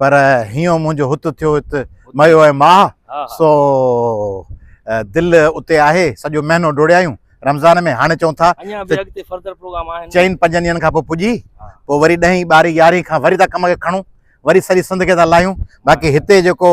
پر هيون منهنجو هت ٿيو هت ميو ۽ ماهه سو دل اتي آهي سڄو مهينو ڊوڙيايون رمضان ۾ هاڻي چون ٿا چئن پنجن ڏينهن کان پوء پڄي پوء وري ڏهين ٻارهين يارهين کان وري ٿا ڪم کي کڻون وري سڄي سنڌ کي ٿا لاهيون باقي هتي جيڪو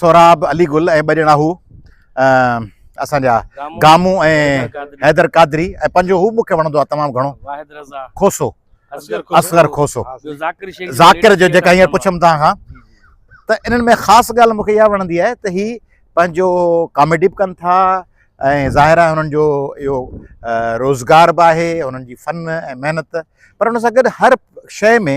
سهراب، علي گل ۽ ٻه ڄڻا هو اسان جا گامو ۽ حيدر قادري ۽ پنجو هو مونکي وڻندو آهي تمام گهڻو واحد رضا کوسو اصغر کوسو ذاڪر جو جيڪا هينئر پڇم توهان کان ته انهن ۾ خاص ڳالهه مونکي اها وڻندي آهي ته هي پنهنجو ڪاميڊي به ڪن ٿا ۽ ظاهر آهي هنن جو اهو روزگار به آهي هنن جي فن ۽ محنت پر ان سان گڏ هر شيء ۾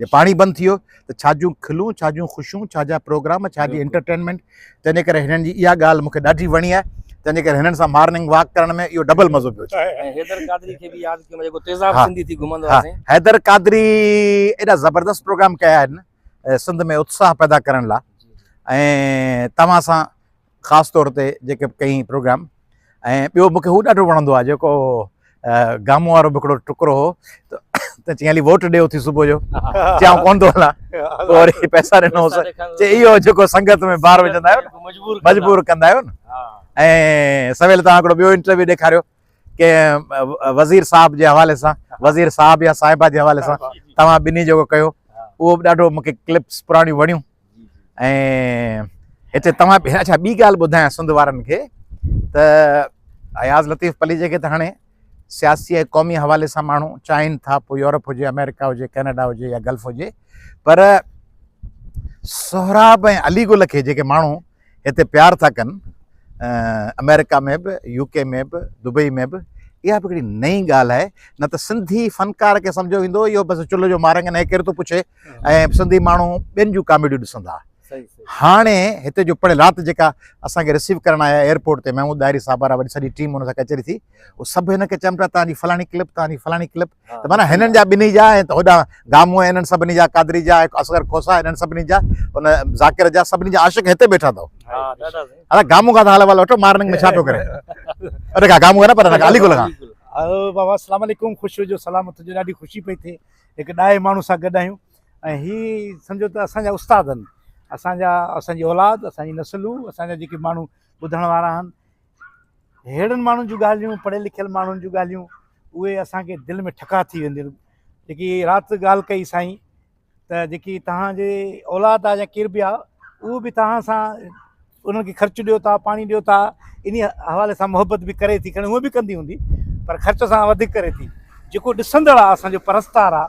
جي پاڻي بند ٿيو ته ڇا جون کلون ڇا جون خوشيون ڇا جا پروگرام ڇا جي انٽرٽينمينٽ تنهنجي ڪري هنن جي اها ڳالهه مونکي ڏاڍي وڻي آهي تنهنجي ڪري هنن سان مارننگ واڪ ڪرڻ ۾ اهو ڊبل مزو پيو اچي حيدر قادري کي به ياد ڪيو جيڪو تيزاب سنڌي ٿي گهمندو آهي سائين حيدر قادري ايڏا زبردست پروگرام ڪيا آهن سنڌ ۾ اتساهه پيدا ڪرڻ لاء ۽ توهان سان خاص طور تي جيڪي به ڪيائين پروگرام ۽ ٻيو مون کي هو ڏاڍو وڻندو آهي جيڪو گامو وارو به هڪڙو ٽڪرو هو ته چيائين هلي ووٽ ڏي اٿي صبح جو چي آئون ڪونه ٿو هلان پوء وري پئسا ڏنوس چي اهو جيڪو سنگت ۾ بار وجهندا آهيو مجبور ڪندا آهيو ۽ سويل توهان هڪڙو ٻيو انٽرويو ڏيکاريو ڪي وزير صاحب جي حوالي سان وزير صاحب يا صاحبه جي حوالي سان توهان ٻنهي جيڪو ڪيو اهو به ڏاڍو مونکي ڪلپس پراڻيون وڻيون ۽ هتي توهان به اچھا ٻي ڳالهه ٻڌايان سنڌ وارن کي ته اياز لطيف پليجي کي ته هاڻي سياسي ۽ قومي حوالي سان ماڻهو چاهين ٿا پوء يورپ هجي آمريڪا هجي ڪينيڊا هجي يا گلف هجي پر سهراب ۽ علي گل کي جيڪي ماڻهو هتي پيار ٿا ڪن، آمريڪا ۾ به، يو ڪي ۾ به، دبئي ۾ به، اها به ڪهڙي نئين ڳالهه آهي، نه ته سنڌي فنڪار کي سمجهيو ويندو هو اهو بس چلهه جو مارنگ آهن هي ڪير ٿو پڇي ۽ سنڌي ماڻهو ٻين جون ڪاميڊيون ڏسندا. هاڻي هتي جو پڙهيل رات جيڪا اسان کي رسيو ڪرڻ آيا ايئرپورٽ تي محمود ڏاهري صاحب وارا وڏي سڄي ٽيم ان سان ڪچهري ٿي، هو سڀ هن کي چيم پيا تان جي فلاڻي ڪلپ تان جي فلاڻي ڪلپ ته معنيٰ هنن جا ٻنهي جا ۽ هوڏانهن گامون ۽ انهن سڀني جا قادري جا ۽ اصغر کوسا انهن سڀني جا ان ذاڪر جا سڀني جا عاشق هتي ٻيٺا اٿئو ادا گامون کان حال احوال وٺو مارننگ ۾ ڇا ٿو ڪري ادا کا گامون نه پر ادا علي گل کان بابا السلام عليڪم خوش هجو سلامت هجو ڏاڍي خوشي پئي ٿئي هڪ ڏاهي ماڻهو سان گڏ آهيون ۽ هي سمجهو ته اسان جا استاد آهن اسان جا اسان جي اولاد اسان جي نسلون اسان جا جيڪي ماڻهو ٻڌڻ وارا آهن. ههڙن ماڻهن جون ڳالهيون، پڙهيل لکيل ماڻهن جون ڳالهيون، اهي اسان کي دل ۾ ٺڪاء ٿي وينديون آهن. جيڪي رات ڳالهه ڪئي سائين ته جيڪي توهان جي اولاد آهي يا ڪير به آهي اهو به توهان سان انهن کي خرچ ڏيو ٿا، پاڻي ڏيو ٿا، انهي حوالي سان محبت به ڪري ٿي، کڻي هونء به ڪندي هوندي پر خرچ اسان کان وڌيڪ ڪري ٿي. جيڪو ڏسندڙ آهي اسان جو پرستار آهي.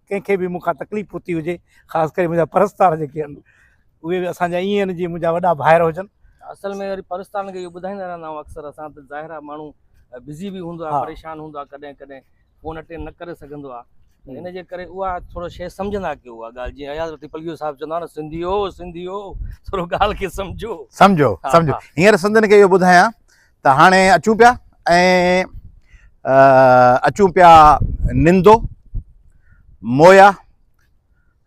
ڪنهن کي به مون کان تڪليف پهتي هجي خاص ڪري منهنجا پرستار جيڪي آهن اهي به اسان جا ائين آهن جيئن منهنجا وڏا ڀائر هجن اصل ۾ وري پرستارن کي اهو ٻڌائيندا رهندا آهيون اڪثر اسان ته ظاهر آهي ماڻهو بزي به هوندو آهي پريشان هوندو آهي ڪڏهن ڪڏهن فون اٽينڊ نه ڪري سگهندو آهي ان جي ڪري اها ٿورو شيء سمجهندا ڪيو اها ڳالهه جيئن اياز رتي پليو صاحب چوندا نه سنڌيو سنڌيو ٿورو ڳالهه کي سمجهو سمجهو سمجهو هينئر سنڌين کي اهو ٻڌايان ته هاڻي اچون پيا ۽ اچون پيا نندو مويا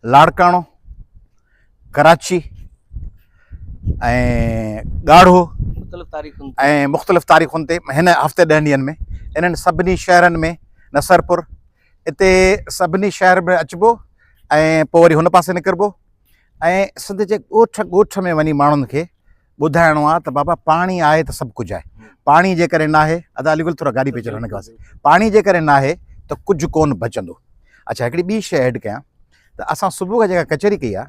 لاڙڪاڻو ڪراچي ۽ ڳاڙهو ۽ مختلف تاريخن تي هن هفتي ڏهن ڏينهن ۾ انهن سڀني شهرن ۾ نصرپور اتي سڀني شهر ۾ اچبو ۽ پوء وري هن پاسي نڪربو ۽ سنڌ جي ڳوٺ ڳوٺ ۾ وڃي ماڻهن کي ٻڌائڻو آ ته بابا پاڻي آهي ته سڀ ڪجهه آهي پاڻي جي ڪري ناهي ادا علي گل ٿورا گاڏي پيچر هن کي پاڻي جي ڪري ناهي ته ڪجهه ڪون بچندو اچھا هڪڙي ٻي شيء ايڊ ڪيان ته اسان صبح کان جيڪا ڪچهري ڪئي آ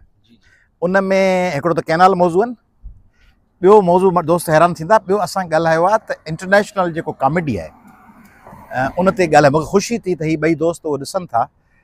ان ۾ هڪڙو ته ڪينال موضوع آهن ٻيو موضوع دوست حيران ٿيندا ٻيو اسان ڳالهايو آ ته انٽرنيشنل جيڪو ڪاميڊي آهي ان تي ڳالهه مگر خوشي ٿي ته هي ٻئي دوست ڏسن ٿا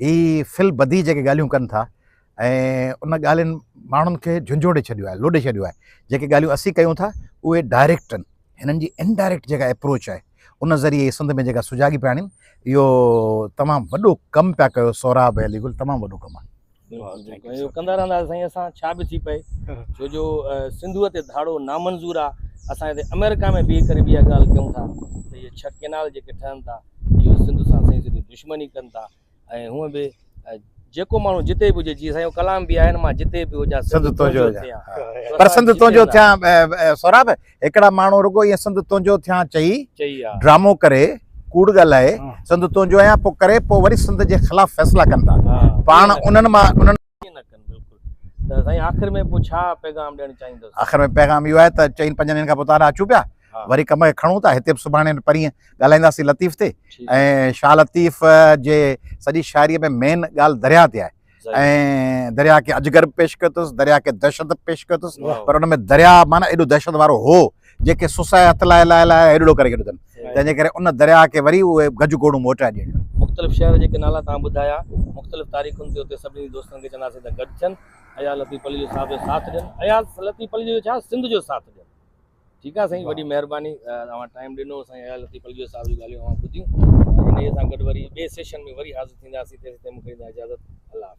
هي في البديهه جيڪي ڳالهيون ڪن ٿا ۽ ان ڳالهين ماڻهن کي جهنجهوڙي ڇڏيو آهي، لوڏي ڇڏيو آهي. جيڪي ڳالهيون اسين ڪيون ٿا اهي ڊائريڪٽ آهن. هنن جي انڊائريڪٽ جيڪا ايپروچ آهي ان ذريعي هي سنڌ ۾ جيڪا سجاڳي پيا آڻين اهو تمام وڏو ڪم پيا ڪيو سهراب علي گل تمام وڏو ڪم آهي. ڪندا رهندا سائين اسان ڇا به ٿي پئي ڇو جو سنڌو تي ڌاڙو نامنظور آ اسان هتي آمريڪا ۾ بيهي ڪري به اها ڳالهه ڪيون ٿا ته اهي ڇهه ڪينال جيڪي ٺهن ٿا اهي سنڌ سان سائين سڌي دشمني ڪن ٿا ۽ هونء به جيڪو ماڻهو جتي به هجي جيئن سائين ڪلام به آهي نه مان جتي به هجان سنڌ تنهنجو ٿيان پر سنڌ تنهنجو ٿيان سهراب هڪڙا ماڻهو رڳو ائين سنڌ تنهنجو ٿيان چئي ڊرامو ڪري ڪوڙ ڳالهائي سنڌ تنهنجو آهيان پوء ڪري پوء وري سنڌ جي خلاف فيصلا ڪن ٿا پاڻ انهن مان آخر ۾ پيغام ڏيڻ چاهيندس آخر ۾ پيغام اهو آهي ته چئن پنجن ڏينهن کان پوء تارا اچون پيا وري ڪم کي کڻون ٿا هتي به سڀاڻي پرينء ڳالهائينداسين لطيف تي ۽ شاهه لطيف جي سڄي شاعريء ۾ مين ڳالهه درياهه تي آهي ۽ درياء کي اجگر به پيش ڪيو اٿس، درياء کي دهشت به پيش ڪيو اٿس، پر ان ۾ درياء معنيٰ ايڏو دهشت وارو هو، جنهن کي سسئي هٿ لائي لائي لائي هيڏڙو ڪري ڇڏيو اٿن، تنهن جي ڪري ان درياء کي وري اهي گج گوڙون موٽائي ڏيڻيون آهن. مختلف شهر جيڪي نالا توهان ٻڌايا، مختلف تاريخن تي اتي سڀني دوستن کي چونداسين ته گڏ ٿين، اياز لطيف پليجو صاحب جو ساٿ ڏين، اياز لطيف پليجو جو ڇا سنڌ جو ساٿ ڏين. ٺيڪ آ سائين وڏي مهرباني اوهان ٽائيم ڏنو سائين اياز لطيف الگيو صاحب جون ڳالهيون اوهان ٻڌيون انهي سان گڏ وري ٻي سيشن ۾ وري حاضر ٿينداسين تيسين تائين مونکي ڏيندا اجازت الله حافظ